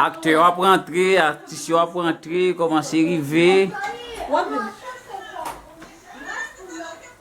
Aktè yo ap rantre, atis yo ap rantre, kòmanse rive.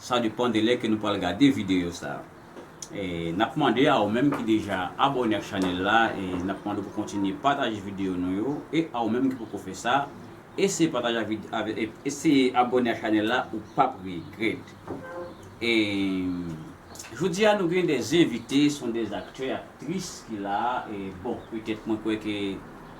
Sa depan de lè ke nou pral gade videyo sa. E nap mande a ou menm ki deja abòne ak chanèl la e nap mande w pou kontinye pataje videyo nou yo e a ou menm ki poko fè sa eseye pataje ak vide avè e eseye abòne ak chanèl la ou pap regrèt. E jodi a nou gen 2 envite son 2 aktè aktris ki la e bon petèt mwen kwè ke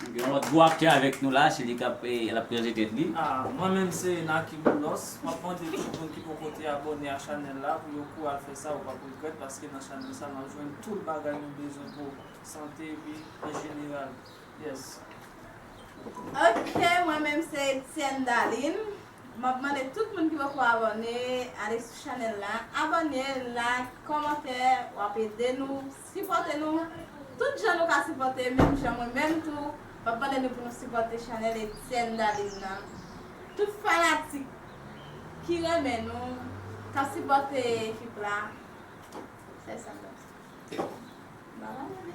Gen yon lòt gwo aktè avèk nou la, se li kap lap prezante tèt li. Mwen menm se Naky Boulos, map mande tout moun ki poko te abòne ak chanèl la pou yo kou al fè sa ou pap regrèt paske nan chanèl sa nap jwenn tout bagay nou bezwen pou sante epi an jeneral yes. Ok mwen menm se Etienne Darline, map mande tout moun ki poko abòne ale sou chanèl la abòne, like, kòmantè wap ede nou Sipòte nou tout jan nou ka sipòte menm jan mwen menm tou map mande nou pou nou sipòte chanèl Etienne Daline nan tout fanatik ki renmen nou kap sipòte ekip la fè sa mwen mpa pale.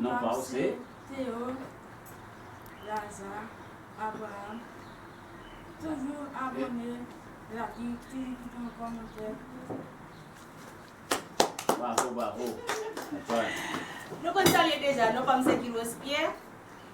Non pa w se. Teo, Laza, Abraham Toujou abone, laki, toujou kite yon kòmantè. Bravo bravo. Nou konn salye deja non pa m se Kilos Pierre.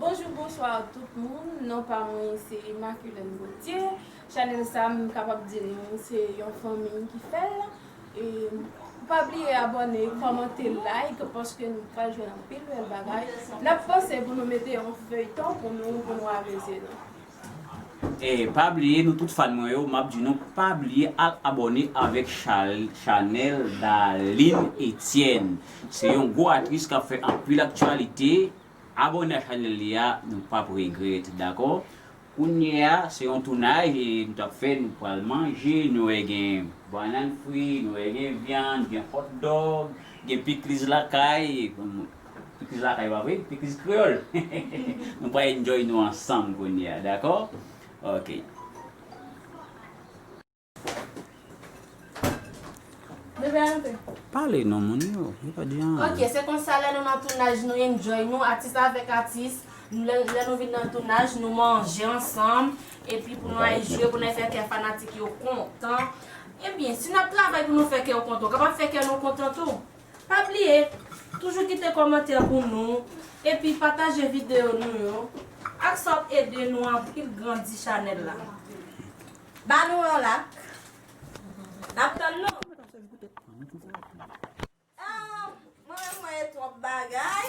Bonjou bonswa tout moun non pa mwen se Imaculène Gauthier chanèl sa m kapab di nou se yon fanmi ki fè l e pa bliye abòne kòmante like paske nou pral jwenn anpil bèl bagay n ap panse pou nou mete yon feyton pou nou pou nou amuse nou. Pa bliye nou tout fan mwen yo map di nou pa bliye al abòne avèk chanèl Darline Etienne se yon gwo aktris kap fè anpil aktyalite abòne ak chanèl li a nou pap regrèt dakò kounyea se yon tounaj nou tap fè nou pral manje nou wè gen banann fri nou wè gen vyann gen hotdog gen pikliz lakay. Tout moun lakay pa vre? Pickles Creole Nou pral enjoy nou ansanm kounye a dakò ok. Pale non moun yo, yo pa di anyen. Ok se konsa lè nou nan tounaj nou enjoy nou atis avèk atis lè nou vin nan tounaj nou manje ansanm epi pou nou al jwe pou nou al fè kè fanatik yo kontan ebyen si nap travay pou nou fè kè yo kontan ou kapab fè kè nou kontan tou Pa bliye toujou kite kòmantè pou nou epi pataje videyo nou yo ak sa wap ede nou anpil grandi chanèl la ba nou yon lak nap tann nou ah mwen renmen wè twòp bagay.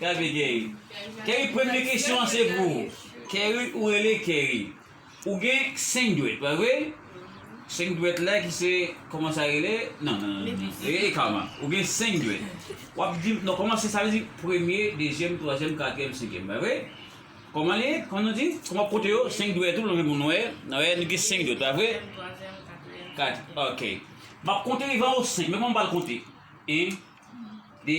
Gade Gary. Gary premye kesyon an se pou ou. Kerry ou rele Kerry. Ou gen 5 dwèt pa vre? 5 dwèt la ki se koman sa rele? Non non non non. E e kama. Ou gen 5 dwèt. Wap di non koman se sa vle di premye, dezyèm, twazyèm, katriyèm, senkyèm pa vre? Koman li? Koman nou di? Koman wap konte yo? 5 dwèt ou lonje moun wè. Nan wè nou gen 5 dwèt pa vre? Dezyèm, twazyèm, katriyèm. Kat. Ok. Map konte devan ou 5. Men koman m pral konte? 1 2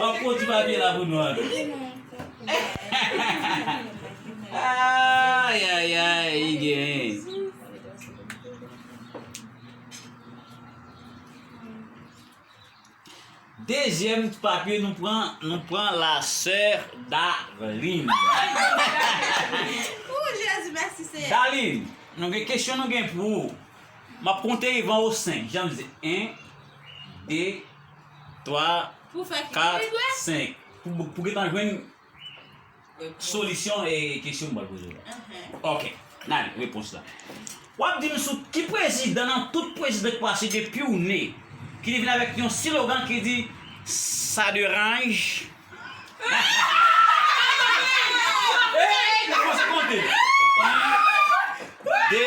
Wap pwan ti papye la pou nou ank. Ayayay i gen. Dezyèm ti papye nou pran, nou pran la sè Dalin. Ooh Jezi mèsi Senyè. Dalin, nou gen kesyon nou gen pou ou. Map konte van ou 5, jan m di 1 2 3, 4, 5. Pou gen tan jwenn solisyon e kesyon mwen poze yo. Ok, nan li, repons la. Wap di m sou ki prezidan nan tout prezidan ki pase depi w ne ki te vin avèk yon silogan ki di sa deranj. Eee, repons konte. 1, 2,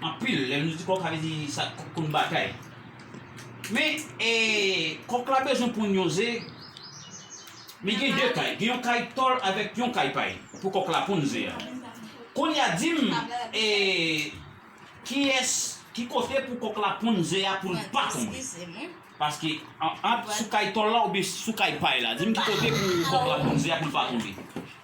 Anpil, lè nou di kòk sa vle di sa k konn batay. Men e kòk la bezwen ponn yon ze, men gen 2 kay, gen yon kay tòl avèk yon kay pay pou kòk la ponn ze a. Kounye a di m e kiyès, ki kote pou kòk la ponn ze a pou l pa tonbe? Paske ant sou kay tòl la oubyen sou kay pay la? Di m ki kote pou kòk la ponn ze a pou l pa tonbe?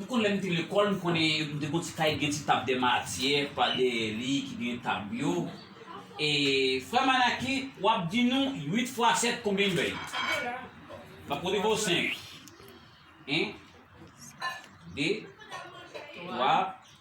Ou konn lè m te lekòl m konnen m te gon ti kay ki gen ti tab dè matyè pa dèyè li ki gen tab yo e frè Manaki w ap di nou 8 fwa 7 konbyen bèy? M ap pote pou w 5 1 2 3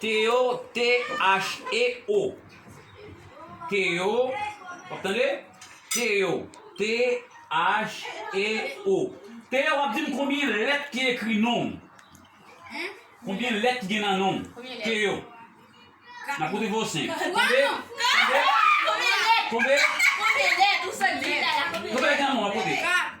Teo, T-h-e-o, Teo, w ap tande? Teo, T-h-e-o. Teo, w ap di m konbyen lèt ki ekri non w? Konbyen lèt ki gen nan non w? Teo, m ap konte pou w 5. Konbyen? Konbyen? Konbyen lèt nan non w? M ap konte.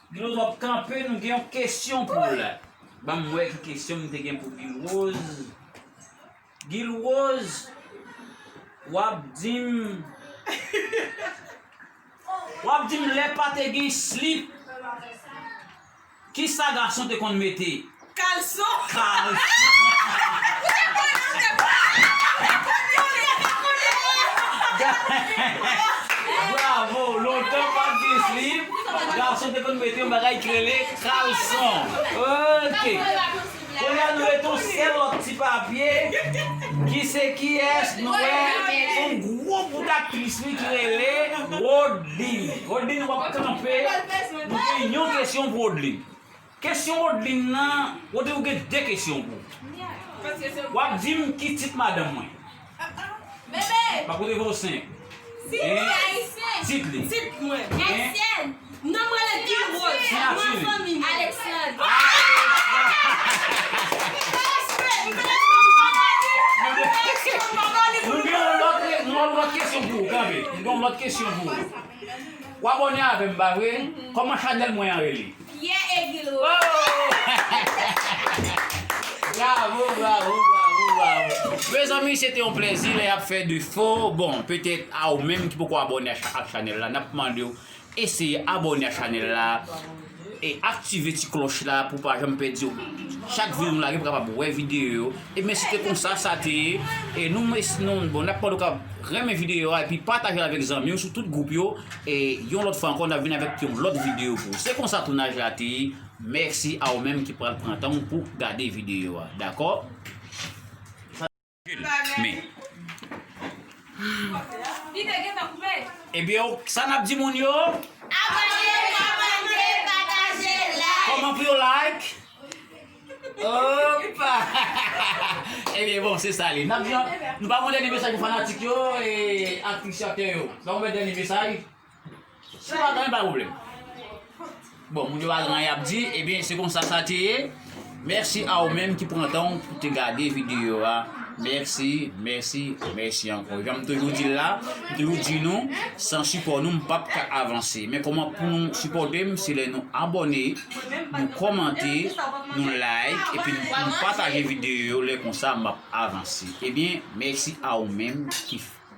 Glou ap kanpe nou gen yon kesyon pou w la. Banm wè ki kesyon m te gen pou Gilrose. Gilrose wap dim wap dim lè pa te gen slip kisa gason te konn mete? Kalson. Bravo! Lontan pat gen slip, gason te konn mete yon bagay ki rele kalson. Ok! Kounye a nou mete yon sèl lòt ti papye ki se kiyès nou wè yon gwo bout aktris li ki rele Wodeline. Wodeline wap kanpe, nou gen yon kesyon pou Wodeline. Kesyon Rodeline nan, Rode ou gen 2 kesyon pou ou. Wap dim ki tit madanm mwen. Map koute vwa ou 5. Tit li. Siyati li. Mwen gen yon lòt kesyon pou ou kanpe. Mwen gen yon lòt kesyon pou ou. Ou abòne avèm pa vre? Kòman chanèl mwen an rele? Pierre Egil Roy. Mezanmi se te yon plezi lè yap fè defo, bon petèt a ou menm ki poko abòne ak chanèl la nap mande w eseye abòne ak chanèl la e aktive ti klòch la pou pa janm pèdi chak videyo nou lage pou kapab wè videyo yo ebyen se te konsa sa te ye e nou bon nap mande w ka renmen videyo a epi pataje l avèk zanmi w sou tout gwoup yo. E yon lòt fwa ankò nap vin avèk yon lòt videyo pou ou. Se konsa tounaj la te ye, mèsi a ou menm ki pral pran tan ou pou gade videyo a. Dakò? Men. Ebyen ok, sa nap di moun yo? Abòne, kòmante, pataje, like. Kòman pou yo like? Opa Ebyen bon se sa li Nap jan Nou pa gon dènye mesaj pou fanatik yo e appresyatè yo Nou pa gon dènye mesaj Si nou pa genyen pa pwoblèm Bon moun yo pa genyen yap di Ebyen se konsa sa te ye Mèsi a ou menm ki pran tan ou pou te gade videyo a Mèsi Mèsi Mèsi ankò Janm toujou di l la M toujou di nou San sipò nou m pap ka avanse Men kòman pou nou sipòte m se lè nou abòne nou kòmante, nou like epi nou pataje videyo yo lè konsa map avanse. Ebyen mèsi a ou menm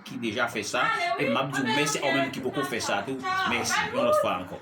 ki deja fè sa e map di ou mèsi a ou menm ki poko fè sa tou mèsi yon lòt fwa ankò.